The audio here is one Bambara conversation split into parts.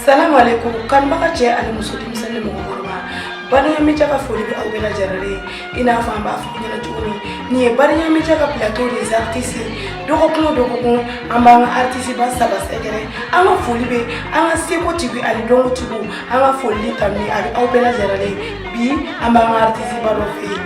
Salamu alaikum kanubaga cɛ ani muso denmisɛnnin mɔgɔkɔrɔba Bariya Média ka foli bɛ aw bɛɛ lajɛlen ye i n'a fɔ an b'a fɔ aw ɲɛna cogo min nin ye Bariya Média ka plateau des artistes ye dɔgɔkun o dɔgɔkun an b'an ka artiste ba saba sɛgɛrɛ an ka foli bɛ an ka seko tigiw ani dɔnko tigiw an ka foli ni tanuni a bɛ aw bɛɛ lajɛlen ye bi an b'an ka artiste ba dɔ fɛ yen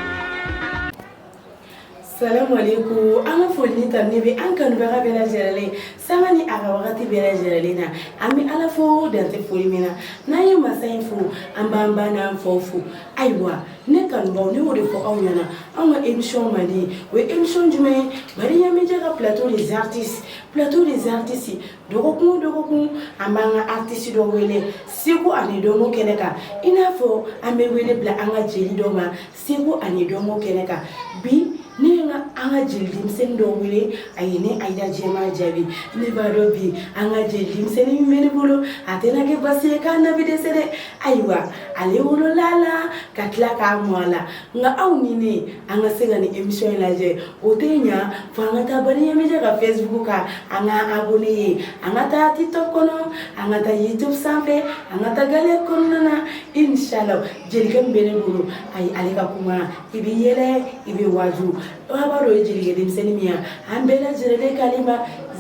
salamu aleykum an ka foli ni tanu bɛ an kanubaga bɛɛ lajɛlen sanga ni a ka wagati bɛɛ lajɛlen na an bɛ ala fo dan tɛ foli min na n'an ye masa in fo an b'an ba n'an faw fo ayiwa ne kanubaaw ne y'o de fɔ aw ɲɛna anw ka émission mandi o ye émission jumɛn ye Bariya Média ka plateau des artistes plateau des artistes dɔgɔkun dɔgɔkun an b'an ka artisi dɔ wele seko ani dɔnko kɛnɛ kan i n'a fɔ an bɛ wele bila an ka jeli dɔ ma seko ani dɔnko kɛnɛ kan bi ne ye an ka jeli denmisɛnnin dɔ wele aw ye ne Ayida Jɛma Jabi ne b'a dɔn bi an ka jeli denmisɛnnin min bɛ ne bolo a tɛna kɛ basi ye k'a na bɛ dɛsɛ dɛ ayiwa ale wolola a la ka tila ka mɔ a la Nka aw ni ne an ka se ka nin émission lajɛ o tɛ ɲɛ fo an ka taa Bariya Média ka Facebook kan an ka abonné an ka taa TikTok kɔnɔ an ka taa YouTube sanfɛ an ka taa gɛlɛn kɔnɔna na inshallah jelikɛ min bɛ ne bolo a ye ale ka kuma i bɛ yɛlɛ i bɛ waju baba dɔ ye jelikɛ denmisɛnnin min yan an bɛɛ lajɛlen ka ma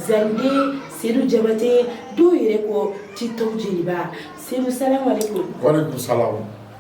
Zanden Sedu Jabate dɔw yɛrɛ ko TikTok jeliba Sedu sa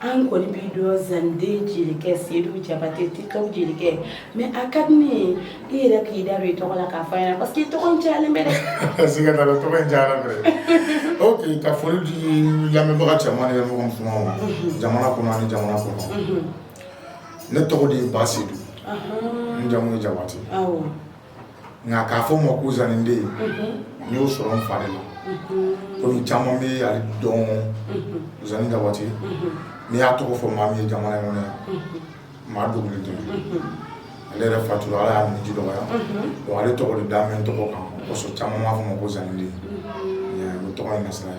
an kɔni b'i dɔn zanden jelikɛ sedu jabate TikTok jelikɛ mais a ka di ne ye i yɛrɛ k'i da don i tɔgɔ la k'a fɔ an ɲɛna parce que i tɔgɔ cayalen bɛ dɛ siga t'a la tɔgɔ in cayalen bɛ dɛ ok ka foli di lamɛnbaga cɛman ni musomanw ma jamana kɔnɔ ani jamana kɔnɔ ne tɔgɔ de ye Basedu n jamu ye jabate awɔ nka k'a fɔ n ma ko Zani den n y'o sɔrɔ n fa de la kɔmi caman bɛ ale dɔn Zani Jabate n'i y'a tɔgɔ fɔ maa min ye jamana in kɔnɔ yan maa dogolen tɛ ale yɛrɛ fatura ala y'a minniji dɔgɔya donc ale tɔgɔ de dalen bɛ n tɔgɔ kan o kosɔn caman b'a fɔ n ma ko Zani den o tɔgɔ in na sira ye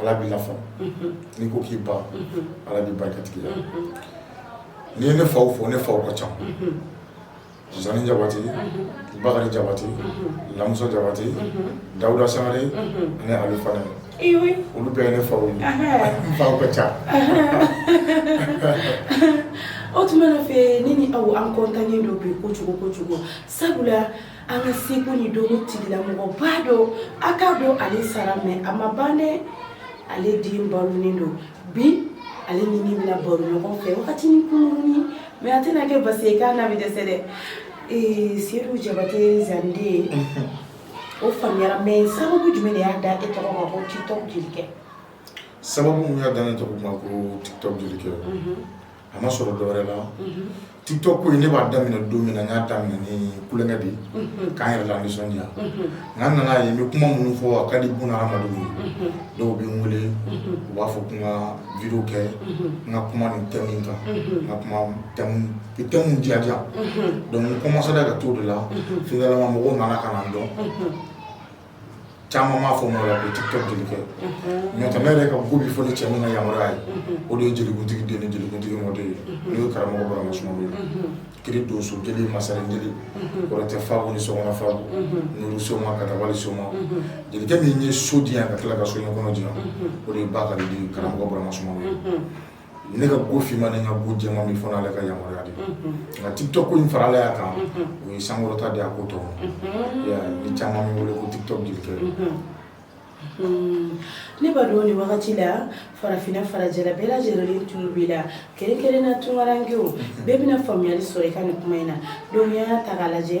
Ala b'i lafa n'i ko k'i ban Ala b'i barikatigiya n'i ye ne faw fo ne faw ka ca Zani Jabate Bakari Jabate Lamusa Jabate Dawuda Sangare ani Alu Fane olu bɛɛ ye ne faw ye n faw ka ca o tuma na fɛ ne ni aw an content nen don bi kojugu kojugu sabula an ka seko ni dɔnko tigilamɔgɔba dɔ an k'a dɔn ale sara mais a ma ban dɛ ale den balolen don bi ale ni ne bɛna baro ɲɔgɔn fɛ wagatinin kunkurunin mais a tɛna kɛ basi ye k'a n'a bɛ dɛsɛ dɛ ee sedu jabate zande ye o faamuyara mais sababu jumɛn de y'a da e tɔgɔ ma ko tiktok jelikɛ sababu min y'a da ne tɔgɔ ma ko tiktok jelikɛ a ma sɔrɔ dɔwɛrɛ la tiktok ko in ne b'a daminɛ don min na n y'a daminɛ ni tulonkɛ de ye k'an yɛrɛ lanisɔndiya nka n nana a ye n bɛ kuma minnu fɔ a ka di bunadamadenw ye dɔw bɛ n wele u b'a fɔ ko n ka video kɛ n ka kuma nin thème in kan ka kuma thème diyadiya donc n kɔmansera ka t'o de la finalement mɔgɔw nana ka na n dɔn caman b'a fɔ ma la ko tiktok jelikɛ unhun mais n tɛ ne yɛrɛ ka ko bi fɔ ni cɛ min ka yamaruya ye unhun o de ye jelikuntigi den ni jelikuntigi mɔden ye unhun n'o ye karamɔgɔ Burama Sumano ye unhun kiri donso jeli masaren jeli unhun kɔrɔtɛ fabu ni sɔgɔma fabu unhun nuru soma katabali soma unhun jelikɛ min ye so di yan ka tila ka so ɲɛkɔnɔ di yan unhun o de ye Bakari den karamɔgɔ Burama Sumano ye unhun Ne ka ko finman ni n ka ko jɛman fɔ n'ale ka yamaruya de nka tiktok ko in farala a kan o ye n sankɔrɔta de ko tɔ ni caman bɛ n wele ko tiktok jelikɛ ne b'a dɔn nin wagati la farafinna farajɛla bɛɛ lajɛlen tulo b'i la kɛrɛnkɛrɛn na tunkarankew bɛɛ bɛna faamuyali sɔrɔ i ka nin kuma in na donc y'a ta lajɛ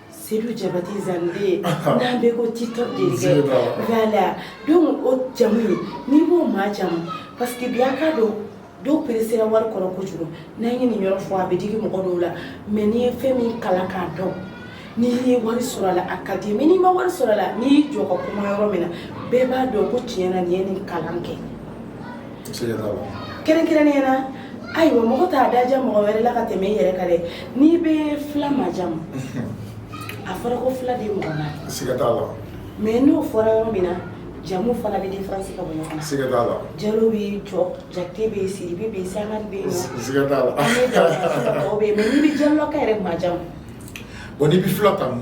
sedu jabate zande n'an bɛ ko tiktok jelikɛ voilà donc o jamu in n'i b'o majamu parce que bi an k'a dɔn dɔw peresera wari kɔrɔ kojugu n'an ye nin yɔrɔ fɔ a bɛ digi mɔgɔ dɔw la mais n'i ye fɛn min kalan k'a dɔn n'i ye wari sɔrɔ a la a ka di mais n'i ma wari sɔrɔ a la n'i y'i jɔ ka kuma yɔrɔ min na bɛɛ b'a dɔn ko tiɲɛ na nin ye nin kalan kɛ kɛrɛnkɛrɛnnenya na ayiwa mɔgɔ t'a daja mɔgɔ wɛrɛ la ka tɛmɛ i yɛrɛ kan dɛ n'i bɛ fila majamu a fɔra ko fila den mɔgɔ naani siga t'a la mais n'o fɔra yɔrɔ min na jamu fana bɛ diferansi ka bɔ ɲɔgɔn na siga t'a la jalo bɛ yen jakite bɛ yen sidibe bɛ yen sangare bɛ yen siga t'a la an bɛ dɔw bɛ yen mais n'i bɛ jalokaw yɛrɛ majamu bon n'i bɛ fila jamu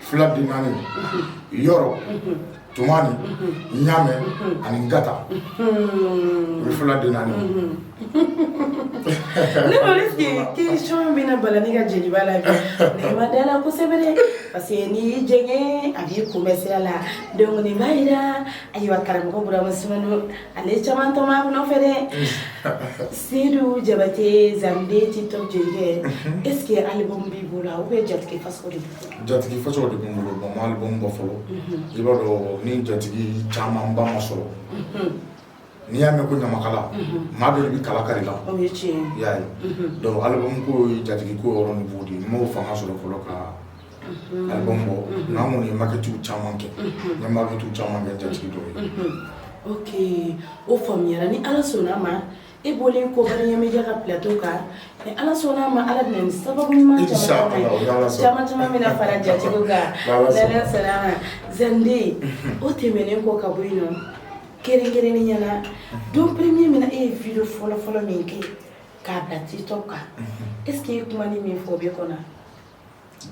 fila den naani yɔrɔ tumani ɲamɛ ani ngata o ye fila den naani ne ko est-ce que question bɛna bala ne ka jeliba la bi ne ma da la kosɛbɛ dɛ parce que n'i y'i jɛngɛ a b'i kunbɛn sira la donc nin b'a jira ayiwa karamɔgɔ Burama Sumano ale caman tɔma k'a nɔfɛ dɛ sedu jabate zande Tik Tok jelikɛ est ce que alibumu b'i bolo ou bien jatigi fasa de jatigi fasa de bɛ n bolo bon n ma alibumu bɔ fɔlɔ i b'a dɔn ni jatigi caman ba ma sɔrɔ n'i y'a mɛn ko ɲamakala maa dɔ de bɛ kala kari la i y'a ye dɔnku alibumu ko ye jatigi ko yɔrɔ niveau de ye n m'o fanga sɔrɔ fɔlɔ ka Album bɔ nka n kɔni ye maquette caman kɛ n ye maquette caman kɛ jatigi dɔ ye oke o faamuyara ni ala sɔnna ma e bɔlen kɔ Bariɲa Media ka plateau kan n'ala sɔnna ma ala ni sababu ɲuman caman caman bɛna fara jatigiw kan sera zande o tɛmɛnen kɔ ka bɔ yen nɔ kɛrɛnkɛrɛnnenya la don premier min na e ye vidéo fɔlɔ fɔlɔ min kɛ k'a bila Tik Tok kan eseke i ye kuma ni min fɔ o b'i kɔnɔ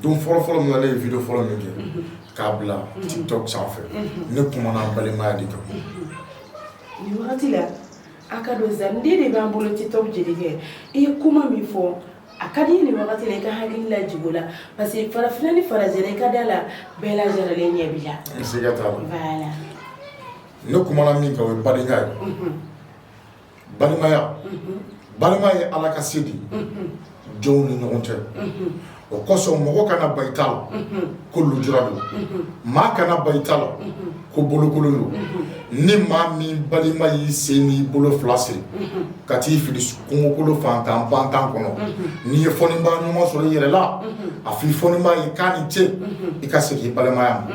Don fɔlɔfɔlɔ min na ne ye vidéo fɔlɔ min kɛ unhun k'a bila unhun Tik Tok sanfɛ unhun ne kumana balimaya de kan unhun nin wagati la a k'a dɔn Zande de b'an bolo Tik Tok jelikɛ i ye kuma min fɔ a ka di n ye nin wagati la i ka hakili lajigin o la parce que farafinna ni farajɛla i ka da la bɛɛ lajɛrɛlen ɲɛ b'i la siga t'a la voilà ne kumana min kan o ye badenya ye unhun balimaya balima ye ala ka se de jɔnw ni ɲɔgɔn cɛ o kosɔn mɔgɔ kana ban i ta la ko lujura don maa kana ban i ta la ko bolokolon don ni maa min balima y'i sen n'i bolo fila siri ka t'i fili kungokolo fantan bantan kɔnɔ n'i ye fɔnibaa ɲuman sɔrɔ i yɛrɛ la a fɔ i fɔnibaa ye k'a ni ce i ka segin i balimaya ma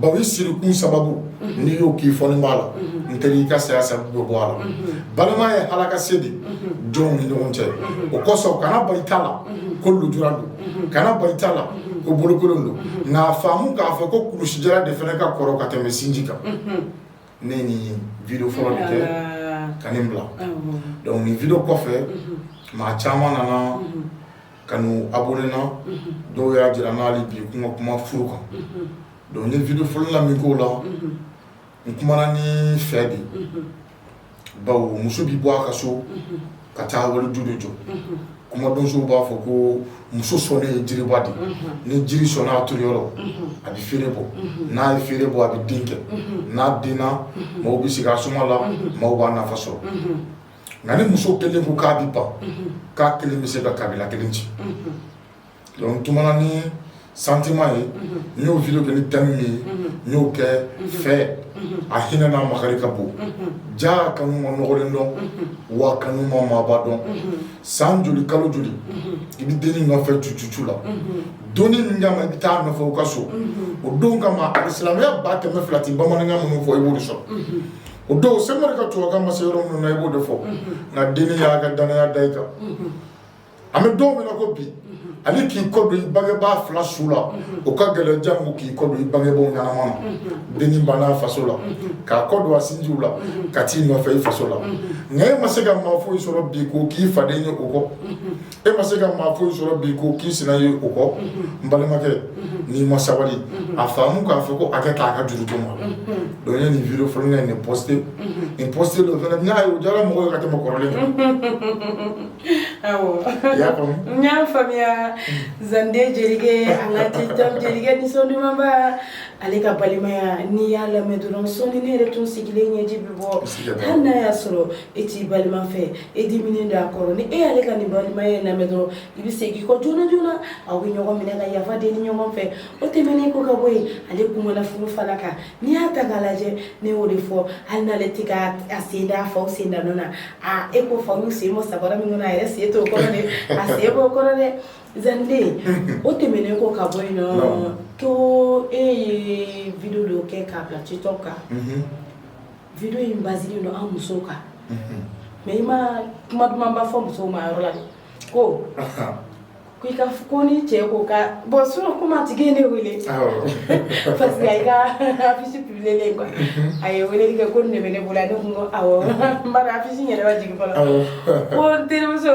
Bawo i sirikun sababu n'i y'o k'i fɔnibaa la n tɛ i ka saya sababu bɛ bɔ a la balima ye ala ka se de jɔnw ni ɲɔgɔn cɛ o kosɔn kana ban i ta la ko lujura don kana ban i ta la ko bolokolon don nka a faamu k'a fɔ ko kulusijala de fana ka kɔrɔ ka tɛmɛ sinji kan ne nin vidéo fɔlɔ de kɛ ka nin bila dɔnku nin vidéo kɔfɛ maa caman nana Ka n'u abonné n na dɔw y'a jira n na hali bi ko n ka kuma furu kan dɔnku n ye vidéo fɔlɔ la min k'o la n kumana nin fɛ de bawo muso bɛ bɔ a ka so ka taa wali du de jɔ kumadonso b'a fɔ ko muso sɔnnen ye jiriba de ni jiri sɔnna a turu yɔrɔ a bɛ feere bɔ n'a ye feere bɔ a bɛ den kɛ n'a denna maaw bɛ sigi a suma la maaw b'a nafa sɔrɔ Nka ni muso kelen ko k'a bɛ ban k'a kelen bɛ se ka kabila kelen ci dɔnku n kumana ni sentiment ye n y'o vidéo kɛ ni thème min ye n y'o kɛ fɛ a hinɛ n'a makari ka bon ja kanu ma nɔgɔlen dɔn wa kanu ma maaba dɔn san joli kalo joli i bɛ dennin nɔfɛ tu tu la don min kama i bɛ t'a nɔfɛ u ka so o don kama hali silamɛya ba kɛmɛ fila tɛ bamanan minnu fɔ i b'o de sɔrɔ o don se ka toka ma se yɔrɔ minnu na i b'o de fɔ nka denni y'a ka dannaya da i kan an bɛ don min na ko bi hali k'i kɔ don i bangebaa fila su la o ka gɛlɛn janko k'i kɔ don i bangebaw ɲɛnama na denni banna faso la k'a kɔ don a sinjiw la ka t'i nɔfɛ i faso la nka e ma se ka maa foyi sɔrɔ bi k'o k'i faden ye o kɔ e ma se ka maa foyi sɔrɔ bi k'o k'i sina ye o kɔ n balimakɛ n'i ma sabali a faamu k'a fɔ ko a kɛ k'a ka juru to ma donc n ye nin video fɔlɔ in de poste nin poste dɔ fana n'a ye o diyara mɔgɔw ye ka tɛmɛ kɔrɔlen kan awɔ i y'a faamu n y'a faamuya zande jelikɛ an ka tiktok jelikɛ nisɔn dumanba ale ka balimaya n'i y'a lamɛn dɔrɔn sɔnni ne yɛrɛ tun sigilen ɲɛji bɛ bɔ hali n'a y'a sɔrɔ e t'i balima fɛ e diminen don a kɔrɔ ni e y'ale ka nin balimaya in lamɛn dɔrɔn i bɛ segin kɔ joona joona aw bɛ ɲɔgɔn minɛ ka yafa deli ɲɔgɔn fɛ o tɛmɛnen kɔ ka bɔ yen ale kumana furu fana kan n'i y'a ta k'a lajɛ ne y'o de fɔ hali n'ale tɛ ka a sen da faw sen da nɔ na e ko faw y'u sen bɔ sabara min kɔnɔ a yɛrɛ sen t'o kɔrɔ dɛ a sen b'o kɔrɔ dɛ zaniden o tɛmɛnen kɔ ka bɔ yen nɔ ko e ye video dɔ kɛ k'a bila tiktok kan video in basilen don an musow kan mais i ma kuma dumanba fɔ musow ma yɔrɔ la dɛ ko ko i ka ko ni cɛ ko ka bon sinon kuma tigi ye ne wele parce que a y'i ka affiche publier quoi a ye weleli kɛ ko nin de bɛ ne bolo ne kun ko awɔ n b'a dɔn affiche in yɛrɛ ma jigin fɔlɔ ko n terimuso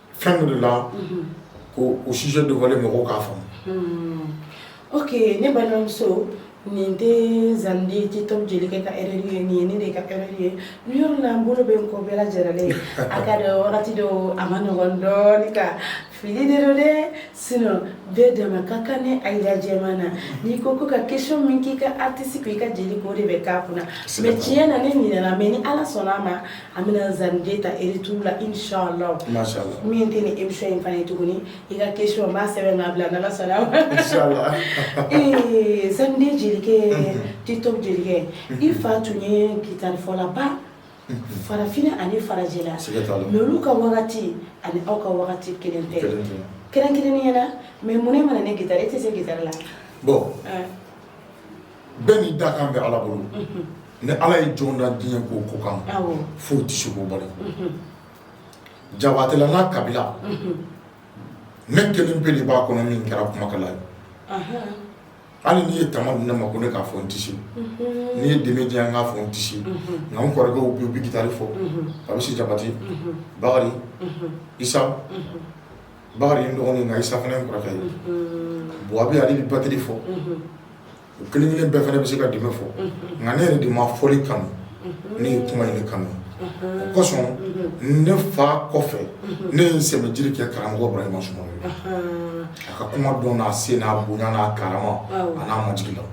fɛn min don la ko o sujet dévoilé mɔgɔw k'a faamu. Unhun ok ne balimamuso nin tɛ Zaniden tiktok jelikɛ ka erreur ye nin ye ne de ka erreur ye nin yɔrɔ in na n bolo bɛ n kɔ bɛɛ lajɛrɛlen a ka dɔn wagati dɔw a ma nɔgɔn dɔɔnin ka fili de don dɛ sinon bɛɛ dama ka kan ni Ayida jɛman na n'i ko ko ka question min k'i ka artiste ko i ka jeli ko de bɛ k'a kunna mais tiɲɛ na ne ɲinɛna mais ni Ala sɔnn'a ma an bɛna zaniden ta retour la inshallah min tɛ nin emission in fana ye tuguni i ka question n b'a sɛbɛn k'a bila n'Ala sɔnn'a ma inshallah ee zaniden jelikɛ mhm. tiktok jelikɛ mhm. i fa tun ye gitarifɔlaba mhm. farafinna ani farajɛla mais olu ka wagati ani aw ka wagati kelen tɛ kɛrɛnkɛrɛnnenya la mais mun ne mana ne gitari e tɛ se gitari la bon bɛɛ n'i dakan bɛ Ala bolo, unhun, ni Ala ye jɔn da diɲɛ ko o ko kama, awɔ, foyi tɛ se k'o bali, unhun, Jabatela n'a kabila, unhun, ne kelen pe de b'a kɔnɔ min kɛra kumakɛla ye, anhan, hali n'i ye tama di ne ma ko ne k'a fɔ n tɛ se, unhun, n'i ye jenbe di yan n k'a fɔ n tɛ se, unhun, nka n kɔrɔkɛw bɛ yen u bɛ gitari fɔ, unhun, Kabisi Jabate, unhun, Bakari, unhun, Isa, unhun Bakari ye n dɔgɔnin nka Isa fana ye n kɔrɔkɛ ye bon a bɛ a bɛ batri fɔ u kelen kelen bɛɛ fana bɛ se ka jenbe fɔ nka ne yɛrɛ de ma fɔli kanu ne ye kuma in de kanu o kosɔn ne fa kɔfɛ ne ye n sɛmɛjiri kɛ karamɔgɔ Burama Sumano ye a ka kuma dɔn n'a se n'a bonya n'a karama an'a majigin la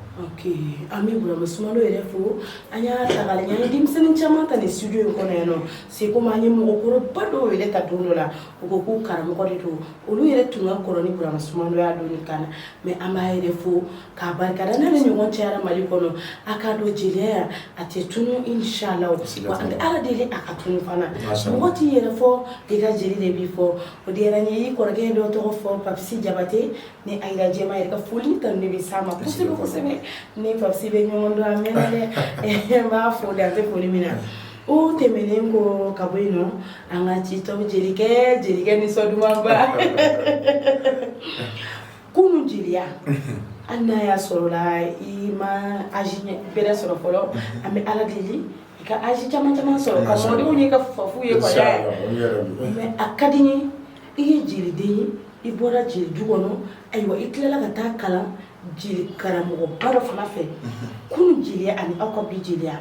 an bɛ Burama Sumano yɛrɛ fo an y'a ta k'a lajɛ an ye denmisɛnnin caman ta nin studio in kɔnɔ yan c'est comme an ye mɔgɔkɔrɔba dɔw yɛrɛ ta don dɔ la u ko k'u karamɔgɔ de don olu yɛrɛ tun ka kɔrɔ ni Burama Sumano y'a don kan na mais an b'a yɛrɛ fo k'a barika da n'ale ɲɔgɔn cayara mali kɔnɔ a k'a dɔn jeliya a tɛ tunu inchallah an bɛ Ala deli a kana tunu fana mɔgɔ t'i yɛrɛ fɔ i ka jeli de b'i fɔ o diyara n ye i kɔrɔkɛ dɔ tɔgɔ fɔ Papisi Jabate ni a jirajɛma yɛrɛ ka foli tanu de bɛ s'a ma kosɛbɛ kosɛbɛ ni Papisi bɛ ɲɔgɔn dɔn a mɛnna dɛ n b'a fo dan tɛ foli min na O tɛmɛnen kɔ ka bɔ yen nɔ an ka ci tɔw jelikɛ jelikɛnin nisɔndumanba kunun jeliya hali n'a y'a sɔrɔ la i ma âge bɛrɛ sɔrɔ fɔlɔ an bɛ ala deli i ka âge caman caman sɔrɔ ka mɔdenw ye ka fafu ye mais a ka di n ye i ye jeliden ye i bɔra jeli du kɔnɔ ayiwa i tilala ka taa kalan jeli karamɔgɔba dɔ fana fɛ kunun jeliya ani aw ka bi jeliya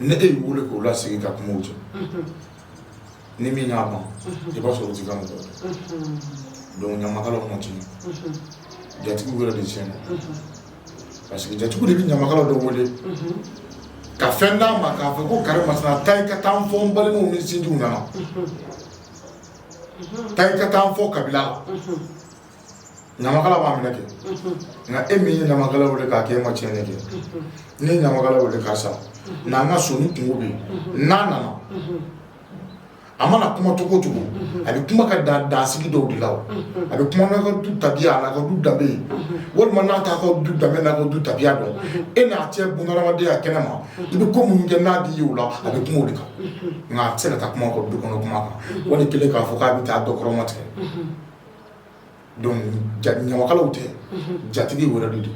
ne e y'i weele k'o lasigi ka kuma aw cɛ unhun ni min y'a ban unhun i b'a sɔrɔ o t'i ka mɔgɔ ye unhuun donc ɲamakalaw ma tiɲɛ unhun jatigiw yɛrɛ de tiɲɛna unhun parce que jatigiw de bɛ ɲamakala dɔ wele unhun ka fɛn d'a ma k'a fɔ ko karimasina taa i ka taa n fɔ n balimaw ni sinjiw ɲɛna unhun taa i ka taa n fɔ kabila la unhun ɲamakala b'a minɛ kɛ nka e min ye ɲamakala wele k'a kɛ e ma tiɲɛni kɛ n'i ye ɲamakala wele ka sa na an ka so ni kunko bɛ yen n'a nana a mana kuma cogo o cogo a bɛ kuma ka dan dansigi dɔw de la a bɛ kuma n'a ka du tabiya n'a ka du danbe ye walima n'a t'a ka du danbe n'a ka du tabiya dɔn e n'a cɛ bunadamadenya a kɛnɛ ma i bɛ ko minnu kɛ n'a di ye o la a bɛ kuma o de kan nka a tɛ se ka taa kuma ka du kɔnɔ kuma kan wali kelen k'a fɔ k'a bɛ taa dɔ kɔrɔmatigɛ Ɲamakalaw tɛ jatigiw yɛrɛ de don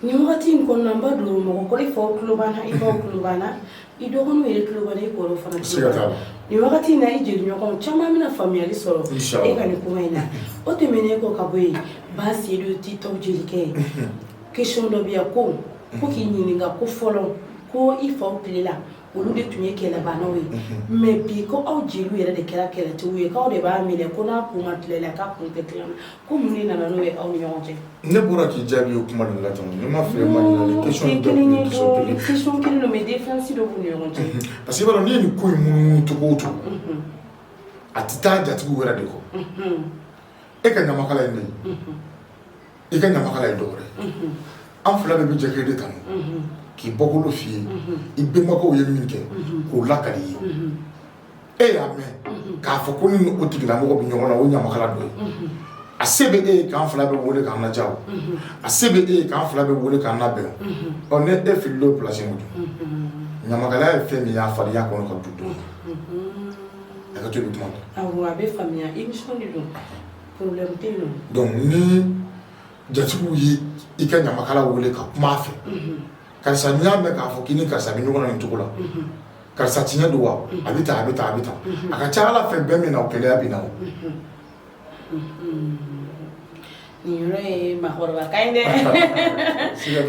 nin waati in kɔnɔna n b'a dɔn mɔgɔkɔrɔ i faw tulo b'an na i baw tulo b'an na i dɔgɔninw yɛrɛ tulo b'an na i kɔrɔw fana tulo b'an na nin wagati in na i jeli ɲɔgɔn caman bɛna faamuyali sɔrɔ e ka nin kuma in na o tɛmɛnen kɔ ka bɔ yen ba sedu tɛ tɔw jelikɛ ye question dɔ bɛ yan ko k'i ɲininka ko fɔlɔ ko i fa tile la olu de tun ye kɛlɛbanaw ye mais bi ko aw jeliw yɛrɛ de kɛra kɛlɛtigiw ye k'aw de b'a minɛ ko n'a kun ma tile la k'a kun tɛ tile la ko mun de nana n'o ye aw ni ɲɔgɔn cɛ ne bɔra k'i jaabi o kuma la ne ma fɛ ma kelen don mais différence dɔ b'u ni ɲɔgɔn cɛ parce que n'i ye nin ko munumunu cogo o cogo a tɛ taa jatigiw wɛrɛ de kɔ e ka ɲamakala ye ne ye i ka ɲamakala ye dɔwɛrɛ an fila bɛɛ bɛ e kelen de tanu k'i bɔkolo f'i ye i bɛnbakɛ ye min kɛ k'o lakali i ye e y'a mɛn k'a fɔ ko ni o tigilamɔgɔ bɛ ɲɔgɔn na o ɲamakala dɔ a se bɛ e ye k'an fila bɛɛ weele k'an ladiya a se bɛ e ye k'an fila bɛɛ weele k'an labɛn ɔ ne e fili don pilasi ɲamakalaya ye fɛn min y'a fadenya kɔnɔ ka dun donc a ka to i bɛ kuma donc ni jatigiw ye i ka ɲamakala wele ka kuma a fɛ karisa n'i y'a mɛn k'a fɔ k'i ni karisa bɛ ɲɔgɔn na nin cogo la karisa tiɲɛ don wa a bɛ tan a bɛ tan a bɛ tan a ka ca a la fɛn bɛ min na o keleya bɛ na o nin yɔrɔ ye maakɔrɔba kan ye dɛ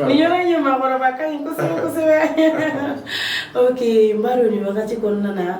nin yɔrɔ ye maakɔrɔba kan ye kosɛbɛ kosɛbɛ ok n b'a dɔn nin wagati kɔnɔna na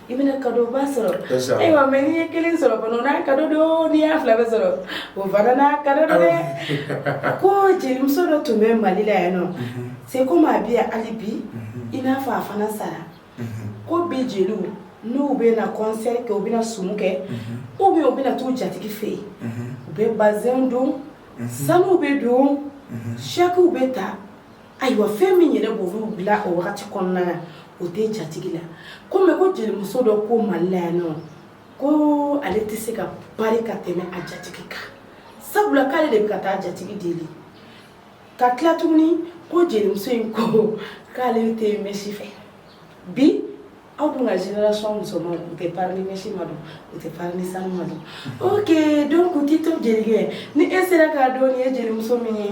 i bɛna kado ba sɔrɔ ayiwa mais n'i ye kelen sɔrɔ o n'a kado don n'i y'a fila bɛɛ sɔrɔ o fana n'a kado don dɛ ko jelimuso dɔ tun bɛ mali la yan nɔ mhm. c'est comme a bɛ yan hali bi mhm. i n'a fɔ a fana sara mhm. ko bi jeliw n'u bɛna kɔnsɛri kɛ u bɛna sumu kɛ ou bien u bɛna t'u jatigi fɛ yen u bɛ bazɛnw don sanuw bɛ don sakiw bɛ ta Ayiwa fɛn min yɛrɛ b'olu bila o wagati kɔnɔna na o tɛ jatigi la ko mais ko jelimuso dɔ ko mali la yan nɔ ko ale tɛ se ka pari ka tɛmɛ a jatigi kan sabula k'ale de bɛ ka taa jatigi deli ka tila tuguni ko jelimuso in ko k'ale tɛ mɛsi fɛ bi aw dun ka génération musomanw u tɛ pari ni mɛsi ma don u tɛ pari ni sanu ma don ok donc tito jelikɛ ni e sera k'a dɔn nin ye jelimuso min ye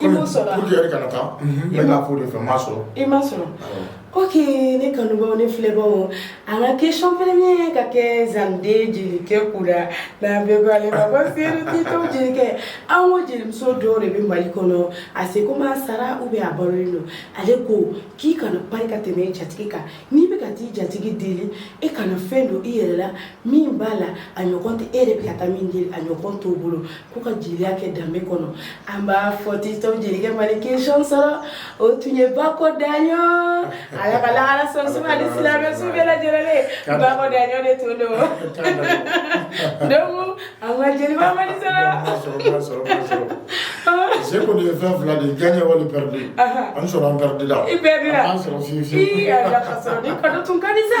I m'a sɔrɔ ok ne kanubaw ne filɛbaw an ka question kelen ka kɛ zande jelikɛ kunna jelikɛ an ko jelimuso dɔ de bɛ mali kɔnɔ c'est comme a sara ou bien a balolen don ale ko k'i kana pari ka tɛmɛ i jatigi kan n'i bɛ ka taa i jatigi deli e kana fɛn don i yɛrɛ la min b'a la a ɲɔgɔn tɛ e de bɛ ka taa min deli a ɲɔgɔn t'o bolo ko ka jeliya kɛ danbe kɔnɔ an b'a fɔ TikTok jelikɛ mali kesɔn sɔrɔ o tun ye Bako Daɲɔn Ala ka lahara sɔn suma ni silamɛ su bɛɛ lajɛlen Bako Daɲɔn de tun don donc an ka jeliba mali sɔrɔ se ko ye fɛn fila de gagné wali perdu an sɔrɔ an perdu la i bɛɛ an sɔrɔ fiyewu fiyewu i yɛrɛ ka sɔrɔ ni kanu tun ka di sa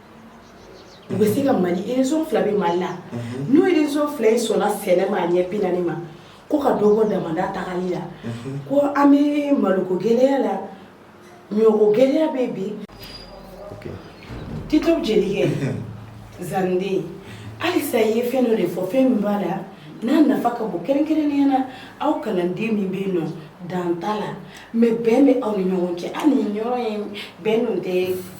U bɛ se ka mali région fila bɛ mali la n'o région fila in sɔnna sɛnɛ ma a ɲɛ bi naani ma ko ka dɔ bɔ damanda taa la ko an bɛ malo ko gɛlɛya la ɲɔ gɛlɛya bɛ bi TikTok jelikɛ zanden halisa i ye fɛn dɔ de fɔ fɛn min b'a la n'a nafa ka bon kɛrɛnkɛrɛnnenya na aw kalanden min bɛ yen nɔ dan t'a la mais bɛn bɛ aw ni ɲɔgɔn cɛ aw ni ɲɔgɔn ye bɛn tɛ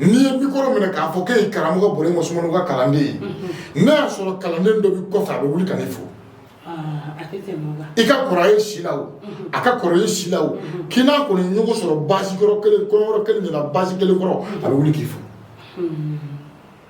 N'i ye mikoro minɛ k'a fɔ k'e ye karamɔgɔ Burama Sumano ka kalanden ye n'a y'a sɔrɔ kalanden dɔ bɛ kɔfɛ a bɛ wuli ka n'i fo i ka kɔrɔ ye si la o a ka kɔrɔ ye si la o k'i n'a kɔni ɲɔgɔn sɔrɔ basi kɔrɔ kɔɲɔyɔrɔ kelen de la basi kelen kɔrɔ a bɛ wuli k'i fo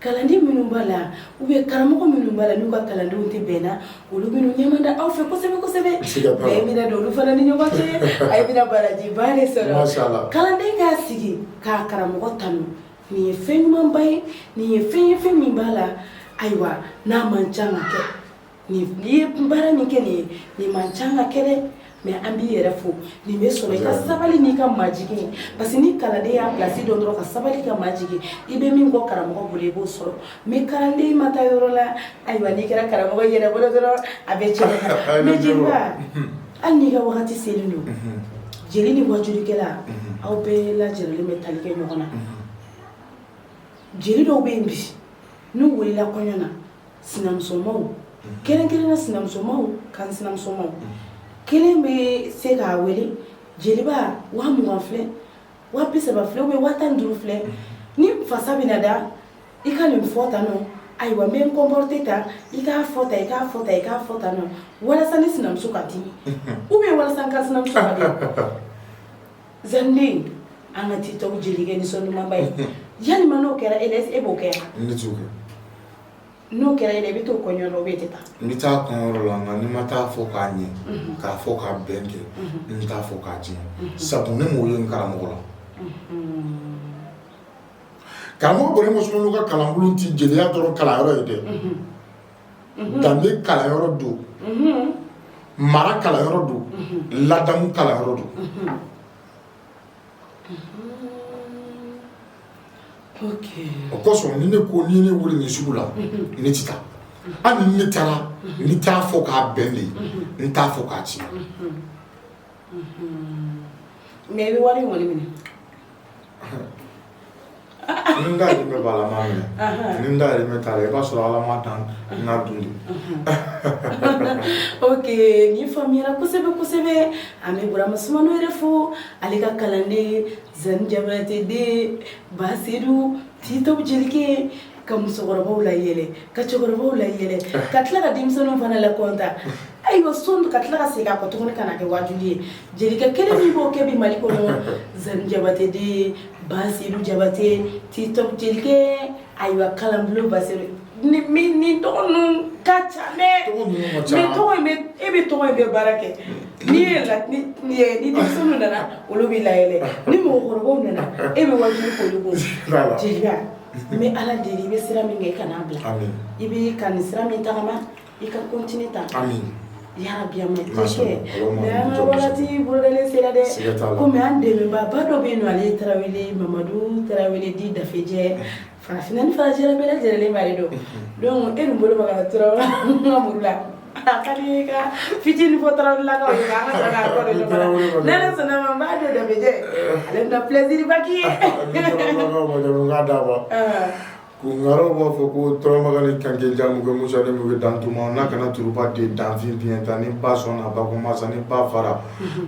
Kalanden minnu b'a la ou bien karamɔgɔ minnu b'a la n'u ka kalandenw tɛ bɛn na olu minnu ɲɛma da aw fɛ kosɛbɛ kosɛbɛ bɛn don olu fana ni ɲɔgɔn cɛ aw bɛna barajiba de sɔrɔ kalanden k'a sigi k'a karamɔgɔ tanu nin ye fɛn ɲumanba ye nin ye fɛn ye fɛn min b'a la ayiwa n'a man ca kɛ N'i ye baara min kɛ nin ye nin man ca ka kɛ dɛ mais an b'i yɛrɛ fo nin bɛ sɔrɔ i ka sabali n'i ka majigin ye parce que ni kalanden y'a place dɔn dɔrɔn ka sabali ka majigin i bɛ min kɔ karamɔgɔ bolo i b'o sɔrɔ mais kalanden ma taa yɔrɔ la ayiwa n'i kɛra karamɔgɔ yɛrɛ bolo dɔrɔn a bɛ tiɲɛ hali n'i ka waati wagati selen don jeli ni wajukɛla aw bɛɛ lajɛlen bɛ tali kɛ ɲɔgɔn na jeli dɔw bɛ yen bi n'u wulila kɔɲɔ na sinamusomaw kɛrɛnkɛrɛnna sinamusomaw kan sinamusomaw kelen bɛ se k'a wele jeliba wa mugan filɛ wa bi saba filɛ ou bien wa tan ni duuru filɛ ne fasa bɛna da i ka nin fɔ tan nɔ ayiwa n bɛ n comporter tan i k'a fɔ tan i k'a fɔ tan i k'a fɔ tan nɔ walasa ne sinamuso ka dimi ou bien walasa n ka sinamuso ka dimi Zanden an ka TikTok jelikɛ nisɔn dumanba ye walima n'o kɛra e e b'o kɛ n'o kɛra e la i bɛ to kɔɲɔ la ou bien i tɛ taa n bɛ taa kɔɲɔyɔrɔ la nka ni ma taa fɔ k'a ɲɛ k'a fɔ k'a bɛn kɛ n t'a fɔ k'a tiɲɛ sabu ne m'o ye n karamɔgɔ la karamɔgɔ Burama Sumano ka kalanbulon tɛ jeliya dɔrɔn kalanyɔrɔ ye dɛ danbe kalanyɔrɔ don mara kalanyɔrɔ don ladamu kalanyɔrɔ don o kosɔn ni ne ko ni ne wele nin sugu la ne tɛ taa hali ni ne taara n t'a fɔ k'a bɛn de n t'a fɔ k'a tiɲɛ mɛ i bɛ wari in kɔni minɛ ni n dahirimɛ b'a la n b'a minɛ ni n dahirimɛ t'a la i b'a sɔrɔ ala m'a dan n k'a dun de ok nin faamuyara kosɛbɛ kosɛbɛ an bɛ burama sumano yɛrɛ fo ale ka kalanden zani jabate den basiru TikTok jelikɛ ka musokɔrɔbaw layɛlɛ ka cɛkɔrɔbaw layɛlɛ ka tila ka denmisɛnninw fana lakɔntan ayiwa son ka tila ka segin a kɔ tuguni ka na kɛ wajuli ye jelikɛ kelen min b'o kɛ bi mali kɔnɔ zani jabate den basiru jabate TikTok jelikɛ ayiwa kalanbulon basiru ni tɔgɔ ninnu ka ca dɛ mais tɔgɔ in bɛ e bɛ tɔgɔ in bɛ baara kɛ n'i ye la ni ni denmisɛnninw nana olu bɛ layɛlɛ ni mɔgɔkɔrɔbaw nana e bɛ wajuli k'olu kun jeliba N bɛ ala deli i bɛ sira min kɛ i kan'a bila i bɛ ka nin sira min tagama i ka continuer ta yarabi mɛ wagati bolodalen sera dɛ kɔmi an dɛmɛbaa ba dɔ bɛ yen don ale ye tarawele mamadu tarawele di dafejɛ farafinna ni farajɛla bɛɛ lajɛlen b'ale dɔn donc e bolo tura la fitinin fɔ tarawelelakaw ye an ka sɔrɔ k'a kɔ don ɲɔgɔn na n'i yɛrɛ sɔnna ma n b'a dɔn dafejɛ ale bɛna pilɛsiriba k'i ye. Kunkaaraw b'a fɔ ko turamagan ni kanke jan muke musa ni muke dantuma n'a kana turuba de danfin biɲɛ ta ni ba sɔnna ba ko masa ni ba fara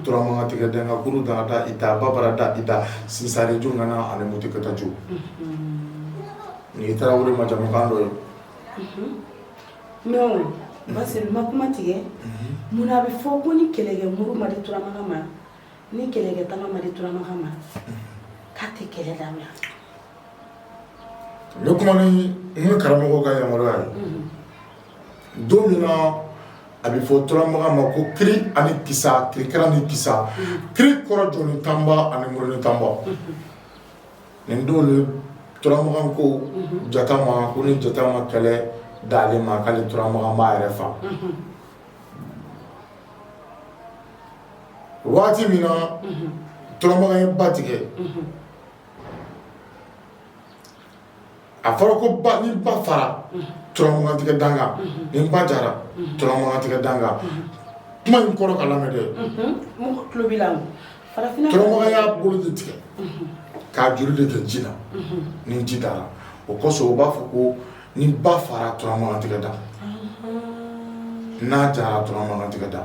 turamagan tigɛ dɛn ka kuru dana da i ta ba bara da i ta sinsare jo nana ani mutu kata jo ni tarawele ma jamukan dɔ ye Non basiru ma kuma tigɛ munna a bɛ fɔ ko ni kɛlɛkɛ muru ma di turamagan ma ni kɛlɛkɛ tama ma di turamagan ma k'a tɛ kɛlɛ dabila n bɛ kuma ni n ka karamɔgɔ ka yamaruya ye don min na a bɛ fɔ turamagan ma ko kiri ani kisa kirikara ni kisa kiri kɔrɔ jɔni tanba ani muruni tanba nin don de turamagan ko jata ma ko ni jata ma kɛlɛ d'ale ma k'ale turamagan b'a yɛrɛ faga waati min na turamagan ye ba tigɛ a fɔra ko ni ba fara turamaga tigɛ dankan ni ba jara turamaga tigɛ dankan kuma in kɔrɔ ka lamɛn dɛ turamaga y'a bolo de tigɛ k'a joli de kɛ ji la ni ji dara o kosɔn u b'a fɔ ko ni ba fara turamaga tigɛ da n'a jara turamaga tigɛ da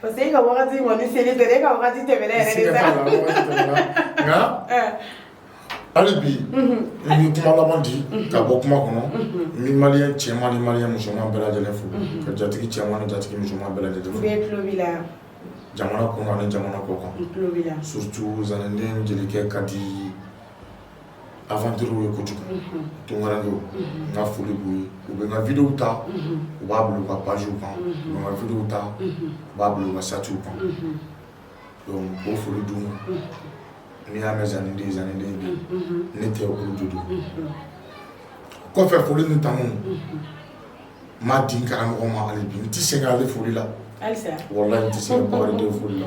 parce que e ka wagati kɔni selen tɛ e ka wagati tɛmɛna yɛrɛ de sa nka hali bi n bɛ kuma laban di ka bɔ kuma kɔnɔ n bɛ maliyɛn cɛman ni maliyɛn musoman bɛɛ lajɛlen fo ka jatigi cɛman ni jatigi musoman bɛɛ lajɛlen fo bɛɛ tulo b'i la jamana kɔnɔ ani jamana kɔkan surtout zanɛnden jelikɛ ka di aventure ye kojugu tunkarankew n ka foli b'u ye u bɛ n ka video ta u b'a bila u ka page kan u bɛ n ka video ta u b'a bila u ka statut kan donc o foli d'u ma n'i y'a mɛn zanni den zanni den bi ne tɛ olu de don kɔfɛ foli ni tanu n b'a di n karamɔgɔ ma hali bi n tɛ sɛgɛn ale foli la walayi n tɛ sɛgɛn bakarijan foli la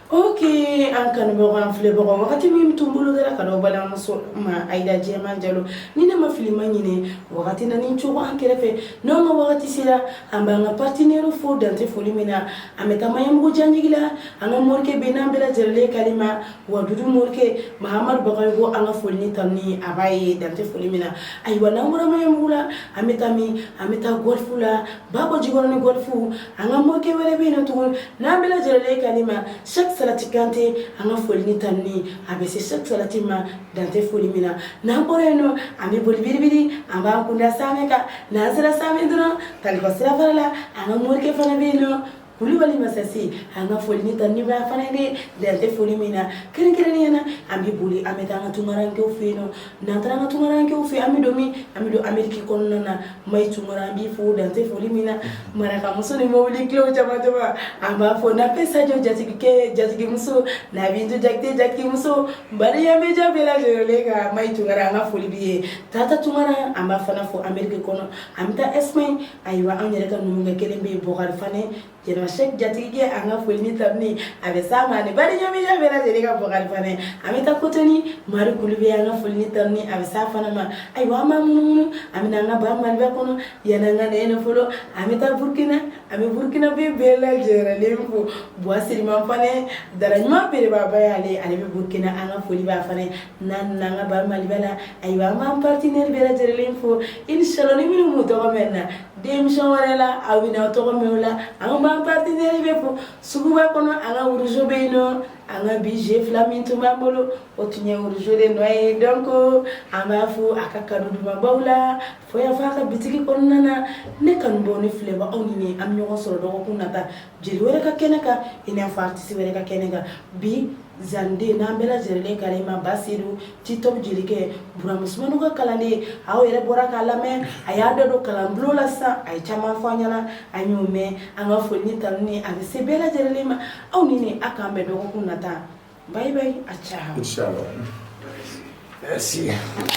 O kɛlen an kanubagaw an filɛbagaw wagati min tun bolodara ka balimamuso ma ayida jɛman jalo ni ne ma fili ma ɲinɛ wagati na ni cogo an kɛrɛfɛ n' an ka wagati sera an b'an ka partenaire fo dan tɛ foli min na an bɛ taa maɲanbugu janjigila an ka morikɛ bɛ n'an bɛɛ lajɛlen kanimɛ wagadu morikɛ mahamadu bagayɔgɔ an ka foli ni tanuni a b'a ye dan tɛ foli min na ayiwa n'an bɔra maɲanbugu la an bɛ taa min an bɛ taa gɔlifu la bakɔjikɔrɔni gɔlifu an ka morikɛ wɛrɛ bɛ yen nɔ tugun n'an bɛɛ lajɛlen kanimɛ sɛki salati kante an ka foli ni tanuni a bɛ se sɛki salati ma dan tɛ foli min na n'an bɔra yen nɔ an bɛ boli biribiri an b'an kun da samɛ kan n'an sera samɛ dɔrɔn taliba sirafara la an ka morikɛ fana bɛ yen nɔ kulubali masasi an ka foli ni tanuni b'a fana ye dan tɛ foli min na kɛrɛnkɛrɛnnenya na an bɛ boli an bɛ taa an ka tunkarankew fɛ yen nɔ n'an taara an ka tunkarankew fɛ an bɛ don min an bɛ don ameriki kɔnɔna na mayi tunkara an b'i fo dan tɛ foli min na marakamuso ni mobili kilew caman caman an b'a fɔ nafe sajɔ jatigikɛ jatigimuso nabintu jakite jatigimuso badiya media bɛɛ lajɛlen ka mayi tunkara an ka foli b'i ye tata tunkara an b'a fana fo ameriki kɔnɔ an bɛ taa ɛsipaɲi ayiwa an yɛrɛ ka numukɛ kelen bɛ yen bɔkari fane jɛnɛba sɛki jatigikɛ an ka foli ni tanuni a bɛ s'a ma ani badiya media bɛɛ lajɛlen ka bɔkari fane an bɛ taa kotoni mari kulu bɛ an ka foli ni tanuni a bɛ s'a fana ma ayiwa an b'an munumunu an bɛ na an ka ba maliba kɔnɔ yanni an ka na yen fɔlɔ an bɛ taa burukina an bɛ burukinabɛ bɛɛ lajɛlen fo buwa siriman fane daraɲuman belebaba y'ale ale bɛ burukina an ka foli b'a fana n'an nana an ka ba maliba la ayiwa an b'an partenaire bɛɛ lajɛlen fo inshallah ni minnu m'u tɔgɔ mɛn na émission wɛrɛ la aw bɛna aw tɔgɔ mɛn o la an b'an partenaire bɛɛ fo suguba kɔnɔ an ka wuruzo bɛ yen nɔ an ka bi je fila min tun b'an bolo o tun ye wuruzo de nɔ ye donc an b'a fo a ka kanu dumanbaw la fo yan fɔ a ka bitigi kɔnɔna na ne kanubaw ne filɛbaw aw ni ne an bɛ ɲɔgɔn sɔrɔ dɔgɔkun nata jeli wɛrɛ ka kɛnɛ kan i n'a fɔ artiste wɛrɛ ka kɛnɛ kan bi zanden n'an bɛɛ lajɛlen balima baseyidu titɔ jelikɛ burama sumano ka kalanden aw yɛrɛ bɔra k'a lamɛn a y'a dɔ don kalanbulon la sisan a ye caman fɔ an ɲɛna a y'o mɛn an ka foli ni tanuni a bɛ se bɛɛ lajɛlen ma aw ni ne a k'an bɛn dɔgɔkun nata bye bye a ciao